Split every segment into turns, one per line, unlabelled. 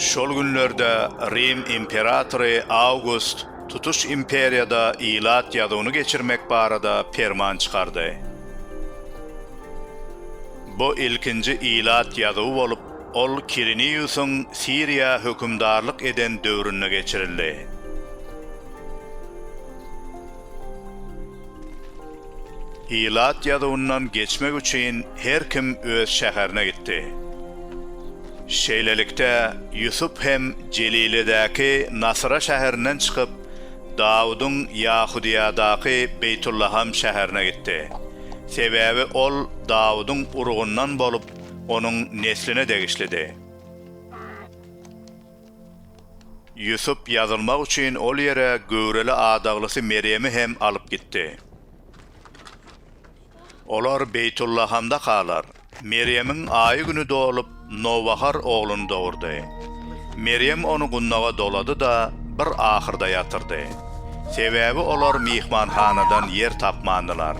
Şol günlerde Rim imperatory Awgust tutuş imperiýada ilat ýazuwyny geçirmek barada perman çykardy. Bu ilkinji ilat ýazuwy bolup, ol Kiriniýusyň Siriýa hökümdarlyk eden döwründe geçirildi. Ilat ýazuwyndan geçmek üçin her kim öz şäherine gitdi. Şeýlelikde, Ýusup hem Jeliledäki Nasyra şäherinden çykyp, Dawudyň Ýahudyýadaky Beýtullaham şäherine gitdi. Sebäbi ol Dawudyň urugyndan bolup, onuň nesline degişlidi. Ýusup ýazylmak üçin ol ýere göwreli adaglysy Merýemi hem alyp gitdi. Olar Beýtullahamda galar. Merýemiň aýy-güni dolup, nowbahar ogluny dogurdy. Merýem ony gundaga dolady-da, bir ahyrda ýatyrdy. Sebäbi olar myhmanhanadan ýer tapmandylar.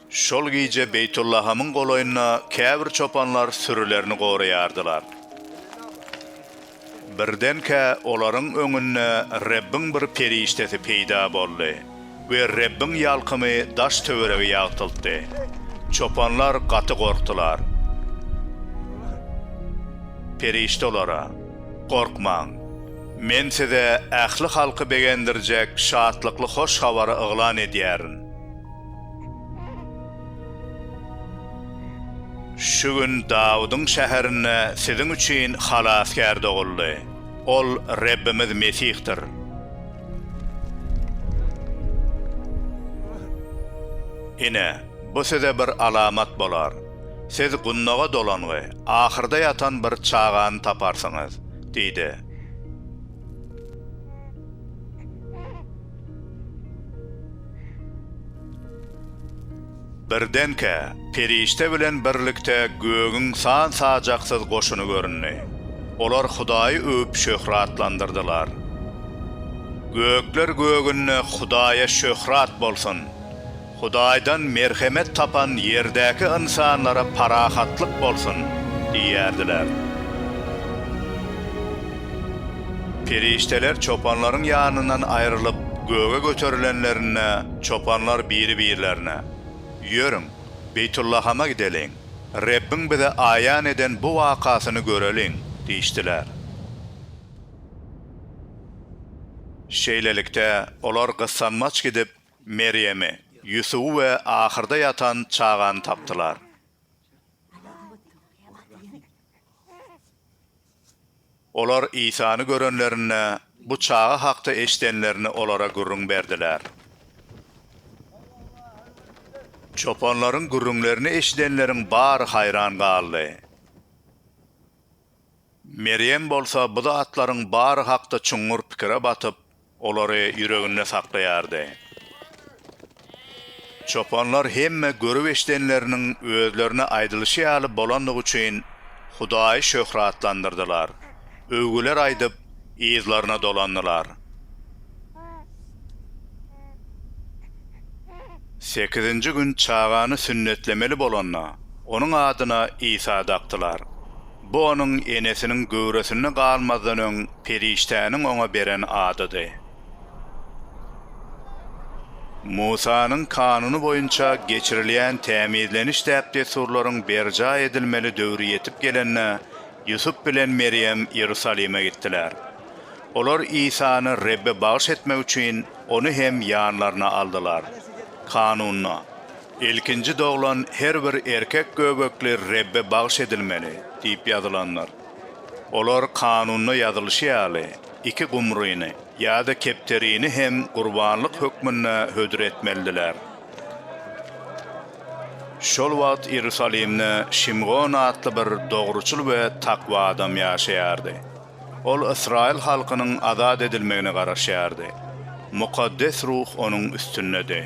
Şol gije Beýtullahamyň golaýynda käbir çopanlar sürülerini goraýardylar. Birdenkä olaryň öňünde Rebbiň bir perişdesi peýda boldy we Rebbiň ýalkymy daş-töweregi ýagtyltdy. Çopanlar gaty gorkdular. Perişde olara, Gorkmaň! Men size ähli halky begendirjek şatlykly hoş habary yglan edýärin. Şu gün Dawudyň şäherinde siziň üçin Halasgär doguldy. Ol Rebbimiz Mesihdir. Ine, bu size bir alamat bolar, siz gundaga dolangy, ahyrda ýatan bir çagany taparsyňyz diýdi. Birdenkä, perişde bilen birlikde gögüň san-sajaksyz goşuny göründi. Olar Hudaýy öwüp şöhratlandyrdylar. Gökler gögünde Hudaýa şöhrat bolsun! Hudaýdan merhemet tapan ýerdäki ynsanlara parahatlyk bolsun! diýerdiler. Perişdeler çopanlaryň ýanyndan aýrylyp, göge göterilenlerinde, çopanlar biri-birlerine, Ýörüň, Beýtullahama gideliň, Rebbiň bize aýan eden bu wakasyny göreliň! diýişdiler. Şeýlelikde, olar gyssanmaç gidip, Merýemi, Ýusuby we ahyrda ýatan çagany tapdylar. Olar Isany görenlerinde, bu çaga hakda eşidenlerini olara gürrüň berdiler. Çopanlaryň gürrüňlerini eşidenleriň bary haýran galdy. Merýem bolsa bu zatlaryň bary hakda çuňňur pikire batyp, olary ýüreginde saklaýardy. Çopanlar hemme görüp-eşidenleriniň özlerine aýdylyşy ýaly bolandygy üçin Hudaýy şöhratlandyrdylar, öwgüler aýdyp, yzlaryna dolandylar. Sekizinji gün çagany sünnetlemeli bolanda, onuň adyna Isa dakdylar. Bu onuň enesiniň göwresinde galmazdan öň perişdäniň oňa beren adydy. Musanyň Kanuny boýunça geçirilýän tämizleniş däp-dessurlaryň berjaý edilmeli döwri ýetip gelende, Ýusup bilen Merýem Iýerusalime gitdiler. Olar Isany Rebbe bagyş etmek üçin, ony hem ýanlaryna aldylar. Kanunda, Ilkinji doglan her bir erkek göbekli Rebbe bagyş edilmeli diýip ýazylandyr. Olar kanunda ýazylyşy ýaly, iki gumryny ýa-da kepderini hem gurbanlyk hökmünde hödür etmelidiler. Şol wagt Iýerusalimde Şimgon atly bir dogruçyl we takwa adam ýaşaýardy. Ol ysraýyl halkynyň azat edilmegine garaşýardy. Mukaddes ruh onuň üstündedi.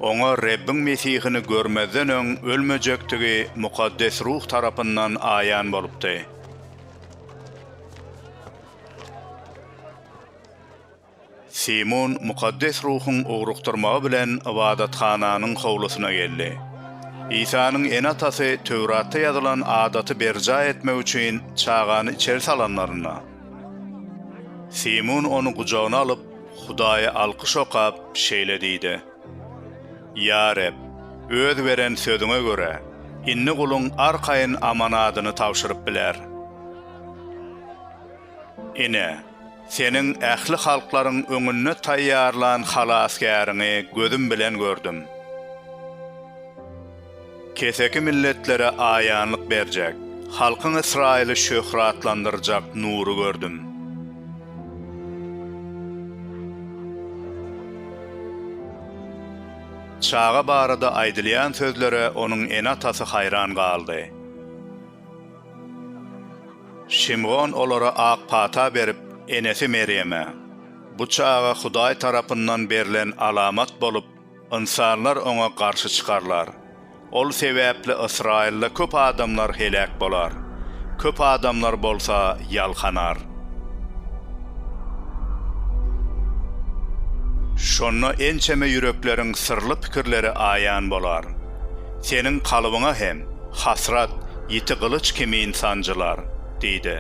Oňa Rebbiň Mesihini görmezden öň ölmejekdigi mukaddes ruh tarapyndan aýan bolupdy. Simon mukaddes ruhuň ugrukdyrmagy bilen ybadathananyň howlusyna geldi. Isanyň ene-atasy Töwratda ýazylan adaty berjaý etmek üçin çagany içeri salanlarynda, Simon ony gujagyna alyp, Hudaýa alkyş okap, şeýle diýdi, Ýa Reb, Öz beren sözüňe görä, indi guluň arkaýyn amanadyny tabşyryp biler. Ine, Seniň ähli halklaryň öňünde taýýarlan Halasgäriňi gözüm bilen gördüm. Keseki milletlere aýanlyk berjek, halkyň Ysraýyly şöhratlandyrjak nury gördüm. Çaga barada aýdylýan sözlere onuň ene-atasy haýran galdy. Şimgon olara ak pata berip, enesi Merýeme, Bu çaga Hudaý tarapyndan berlen alamat bolup, ynsanlar oňa garşy çykarlar. Ol sebäpli Ysraýylda köp adamlar heläk bolar, köp adamlar bolsa ýalkanar. Şonda ençeme ýürekleriň syrly pikirleri aýan bolar. Seniň kalbyňa hem hasrat ýiti gylyç kimin sanjylar, diýdi.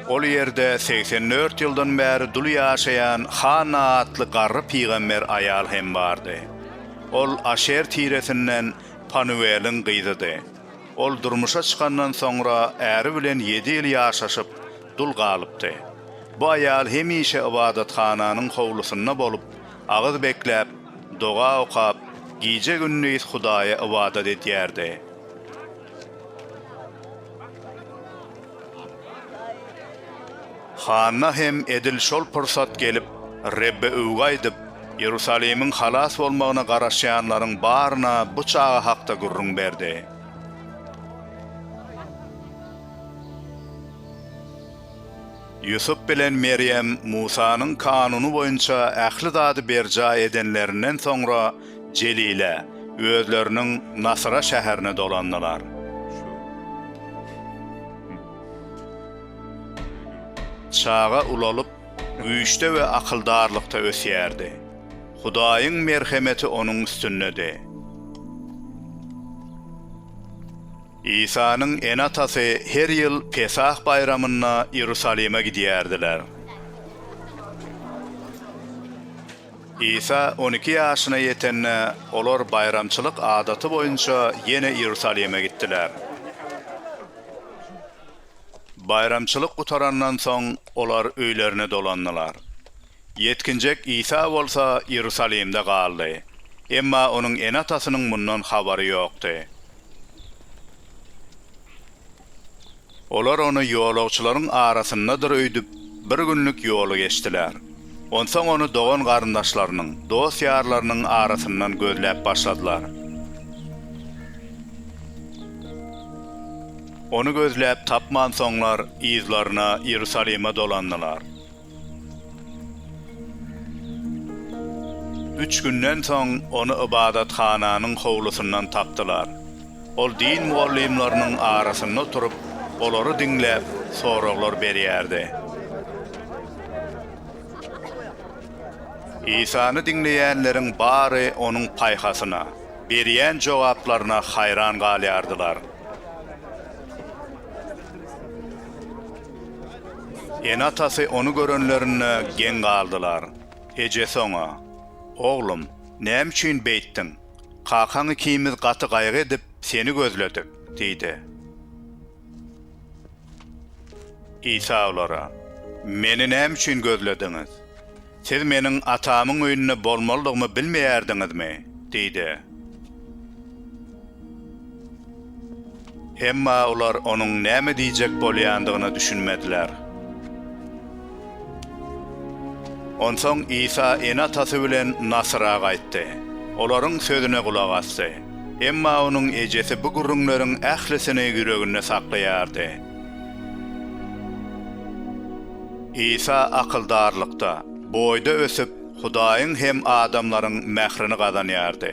Ol ýerde segsen dört ýyldan bäri dul ýaşaýan Hanna atly garry pygamber aýal hem bardy. Ol Aşer tiresinden Panuweliň gyzydy. Ol durmuşa çykandan soňra äri bilen ýedi ýyl ýaşaşyp, dul galypdy. Bu aýal hemişe ybadathananyň howlusynda bolup, agyz bekläp, doga okap, gije-gündiz Hudaýa ybadat edýärdi. Hanna hem edil şol pursat gelip, Rebbe öwgi aýdyp, Iýerusalimiň halas bolmagyna garaşýanlaryň baryna bu çaga hakda gürrüň berdi. Ýusup bilen Merýem Musanyň kanuny boýunça ähli zady berjaý edenlerinden soňra, Jelile, özleriniň Nasyra şäherine dolandylar. Çaga ulalyp, güýçde we akyldarlykda ösýärdi. Hudaýyň merhemeti onuň üstündedi. Isanyň ene-atasy her ýyl Pesah baýramynda Iýerusalime gidýärdiler. Isa on iki ýaşyna ýetende, olar baýramçylyk adaty boýunça ýene Iýerusalime gitdiler. Baýramçylyk gutarandan soň, olar öýlerine dolandylar. Ýetginjek Isa bolsa Iýerusalimde galdy, emma onuň ene-atasynyň mundan habary ýokdy. Olar ony ýolagçylaryň arasyndadyr öýdüp, bir günlük ýoly geçdiler. Onsoň ony dogan-garyndaşlarynyň, dost-ýarlarynyň arasyndan gözläp başladylar. Ony gözläp tapmansoňlar, yzlaryna Iýerusalime dolandylar. Üç günden soň ony ybadathananyň howlusyndan tapdylar. Ol din mugallymlarynyň arasynda oturyp, olary diňläp, soraglar berýärdi. Isany diňleýänleriň bary onuň paýhasyna, berýän jogaplaryna haýran galýardylar. Ene-atasy ony görenlerinde geň galdylar. Ejesi oňa, Oglum, näme üçin beýtdiň? Kakaň ikimiz gaty gaýgy edip, seni gözledik diýdi. Isa olara, Meni näme üçin gözlediňiz? Siz meniň Atamyň öýünde bolmalydygymy bilmeýärdiňizmi? diýdi. Emma olar onuň näme diýjek bolýandygyna düşünmediler. Onsoň Isa ene-atasy bilen Nasyra gaýtdy. Olaryň sözüne gulak asdy. Emma onuň ejesi bu gürrüňleriň ählisini ýüreginde saklaýardy. Isa akyldarlykda, boýda ösüp, Hudaýyň hem adamlaryň mährini gazanýardy.